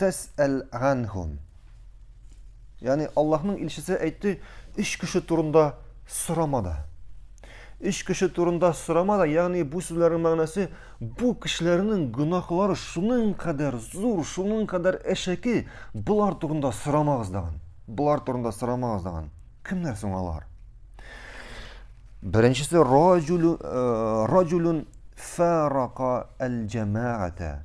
тәсәл ганһум. Ягъни Аллаһның илчесе әйтте, өч кеше турында сорама да. Өч кеше турында сорама да, ягъни бу сүзләрнең мәгънәсе бу кешеләрнең гөнаһлары шуның кадәр зур, шуның кадәр әшәке, болар турында сорамагыз дигән. Болар турында сорамагыз дигән. Кемнәр соң алар? Беренчесе раҗулун э, раҗулун фарака аль-җамаата.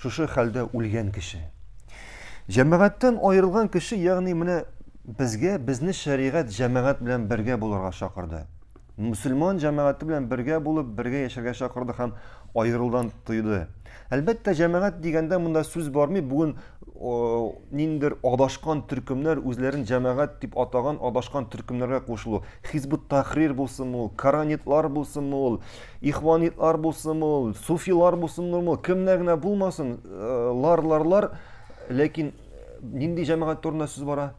шушы хәлдә үлгән кеше. Җәмәгатьтән аерылган кеше, ягъни менә безгә безне шәригать җәмәгать белән бергә булырга чакырды. Мусульман җәмәгате белән бергә булып, бергә яшәргә чакырды һәм аерылдан тыйды. Әлбәттә, җәмәгать дигәндә монда сүз бармый. Бүген ниндер адашкан төркемнәр үзләрен җәмәгать дип атаган адашкан төркемнәргә кушылу. Хизбут Тахрир булсынмы ул, Каранитлар булсынмы ул, Ихванитлар булсын ул, суфилар булсын ул, кемнәр генә булмасын, э, лар, лар, лар, ләкин нинди җәмәгать турында сүз бара?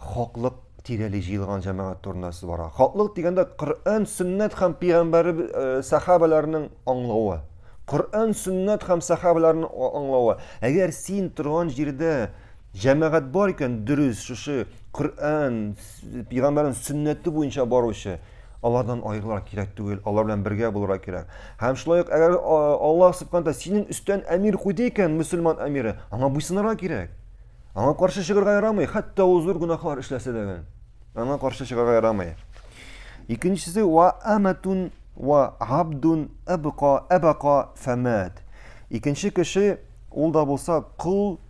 Хаклык тирәли җыелган җәмәгать турында сүз бара. Хаклык дигәндә Коръән, Сөннәт һәм пигамбәр э, сахабаларының аңлавы. Коръән, Сөннәт һәм сахабаларның аңлавы. Әгәр син торган җирдә җәмәгать бар икән, дөрес, шушы Коръән, пигамбәрнең сөннәте буенча баручы алардан аерылырга кирәк түгел, алар белән бергә булырга кирәк. Һәм шулай ук әгәр Аллаһ субханә синең өстән әмир куйды икән, мөселман әмире, аңа буйсынырга кирәк. Аңа каршы чыгарга ярамый, хәтта ул зур гөнаһлар эшләсә дә гел. Аңа каршы чыгарга ярамый. Икенчесе ва аматун ва абдун абка абака фамат. Икенче кеше Ул да булса кол,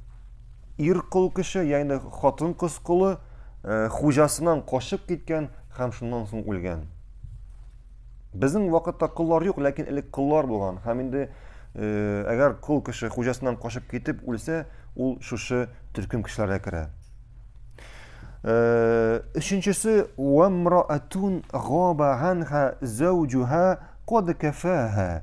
ир кол кеше, ягъни хатын-кыз колы, хуҗасыннан качып киткән һәм шуннан соң үлгән. Безнең вакытта коллар юк, ләкин элек коллар булган. Һәм инде әгәр кол кеше хуҗасыннан качып китеп үлсә, ул шушы төркем кешеләргә керә. Өченчесе вамраатун габа анха заужуха код кафаха.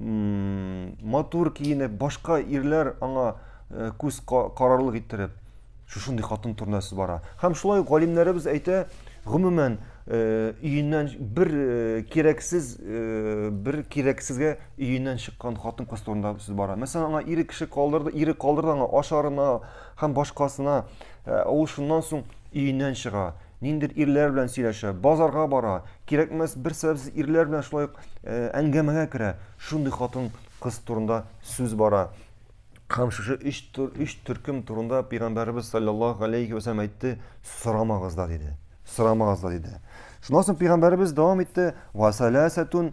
матур киенеп башка ирләр аңа э, күз карарлык иттереп шушындый хатын турында сүз бара һәм шулай галимнәребез әйтә гомумән э, өеннән бер э, кирәксез бер кирәксезгә өеннән чыккан хатын кыз турында сүз бара мәсәлән аңа ире кеше калдырды ире калдырды аңа ашарына һәм башкасына ә ул шуннан соң өеннән чыга Ниндидер ирләр белән сөйләшә, базарга бара, кирәкмәс бер сәбәпсез ирләр белән шулай ук әңгәмәгә керә. Шундый хатын кыз турында сүз бара. Һәм шушы өч, өч төркем турында Пәйгамбәребез саллаллаху алейхи вәсәләм әйтте, сорамагыз да диде. Сорамагыз да диде. Шуннан соң Пәйгамбәребез дәвам итте, вәсәләсәтун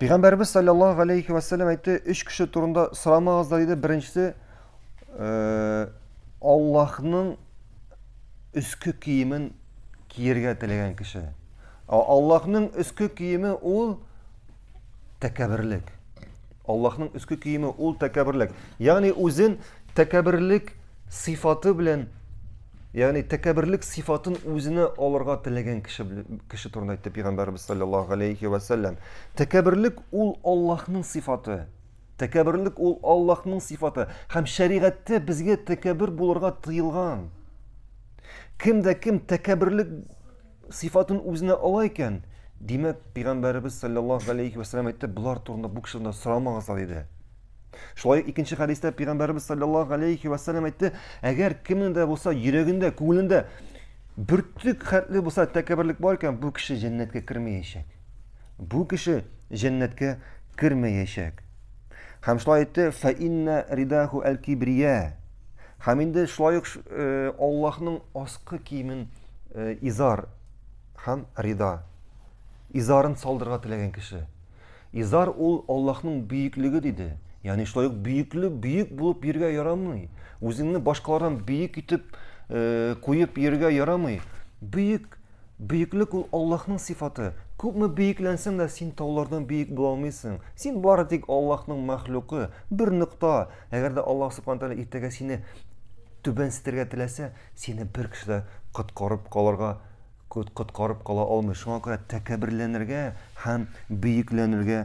Пәйгамбәребез салләллаһу галәйһи вә сәлләм әйтте, өч кеше турында сорамагызлар диде. Беренчесе э, Аллаһның өске киемен киергә теләгән кеше. Аллаһның өске киеме ул тәкәберлек. Аллаһның өске киеме ул тәкәберлек. Ягъни үзен тәкәберлек сыйфаты белән Ягъни тәкәбберлек сыйфатын үзенә алырга теләгән кеше кеше турында әйтте пәйгамбәрбез саллаллаһу алейхи ва саллям. Тәкәбберлек ул Аллаһның сыйфаты. Тәкәбберлек ул Аллаһның сыйфаты һәм шәригатьтә безгә тәкәббер булырга тыелган. Кем дә кем тәкәбберлек сыйфатын үзенә ала икән, димәк, пәйгамбәребез саллаллаһу алейхи вәсәлләм әйтте, болар турында бу кешеләрдән сорамагызлар диде. Шулай ук икенче хәдистә пәйгамбәребез саллаллаһу алейхи вәсәлләм әйтте, әгәр кемнең дә булса йөрәгендә, күңелендә бөртек хәтле булса тәкәбберлек бар икән, бу кеше җәннәткә кермәячәк. Бу кеше җәннәткә кермәячәк. Һәм шулай әйтте, фәиннә ридаху әл-кибрия. Һәм инде шулай ук э, Аллаһның аскы киемен э, изар һәм рида. Изарын салдырга теләгән кеше. Изар ул Аллаһның бөеклеге диде. Ягъни шулай ук бөекле бөек булып йөргә ярамый. Үзеңне башкалардан бөек итеп э, куеп йөргә ярамый. Бөек Бөеклек ул Аллаһның сыйфаты. Күпме бөекләнсәң дә, син таулардан бөек була алмыйсың. Син бары тик Аллаһның мәхлукы, бер нокта. Әгәр дә Аллаһ Субхану Тәгалә иртәгә сине түбәнсетергә теләсә, сине бер кеше дә коткарып калырга коткарып кала алмый. Шуңа күрә тәкәбберләнергә һәм бөекләнергә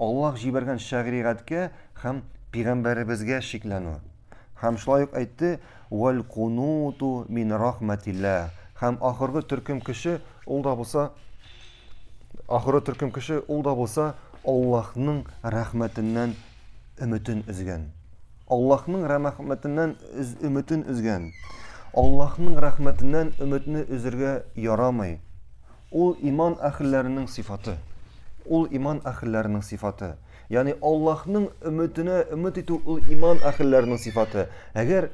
Аллаһ җибәргән шәригатькә һәм пигамбәребезгә шикләнү. Һәм шулай ук әйтте, вәл кунуту мин рахмәтиллә. Һәм ахыргы төркем кеше ул да булса ахыргы төркем кеше ул да булса Аллаһның рәхмәтеннән өметен өзгән. Аллаһның рәхмәтеннән үз өметен үзгән. Аллаһның рәхмәтеннән өметне үзергә ярамый. Ул иман әһелләренең сыйфаты. Ул иман әһелләренең сыйфаты. Ягъни Аллаһның өметенә өмет итү ул иман әһелләренең сыйфаты. Әгәр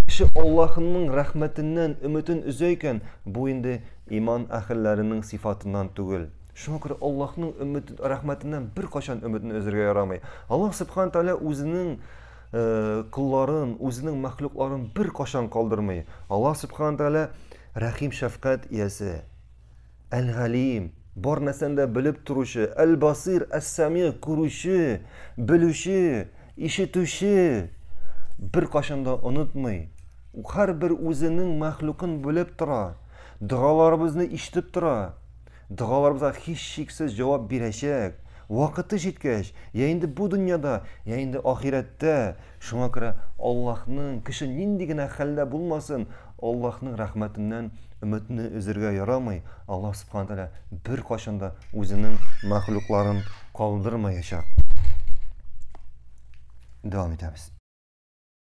кеше Аллаһның рәхмәтеннән өметен өзә икән, бу инде иман әһелләренең сыйфатыннан түгел. Шуңа күрә Аллаһның өмет рәхмәтеннән беркайчан өметне өзергә ярамый. Аллаһ Субхаһу Тәгалә үзенең Э, колларын, үзенең мәхлукларын бер кашан калдырмый. Аллаһ Субхаһу Тәгалә Рәхим-шәфкать иясе, Әл-Галим, бар нәрсәне дә белеп торучы, Әл-Басир, Әс-Сәми, күрүче, белүче, ишетүче, беркайчан да онытмый, һәрбер үзенең мәхлукын белеп тора, догаларыбызны ишетеп тора. Догаларыбызга һичшиксез җавап бирәчәк. Вакыты җиткәч, я инде бу дөньяда, я инде ахирәттә. Шуңа күрә Аллаһның, кеше нинди генә хәлдә булмасын, Аллаһның рәхмәтеннән өметне өзергә ярамый. Аллаһ Субхана Тәгалә беркайчан да үзенең мәхлукларын калдырмаячак. Дәвам итәбез.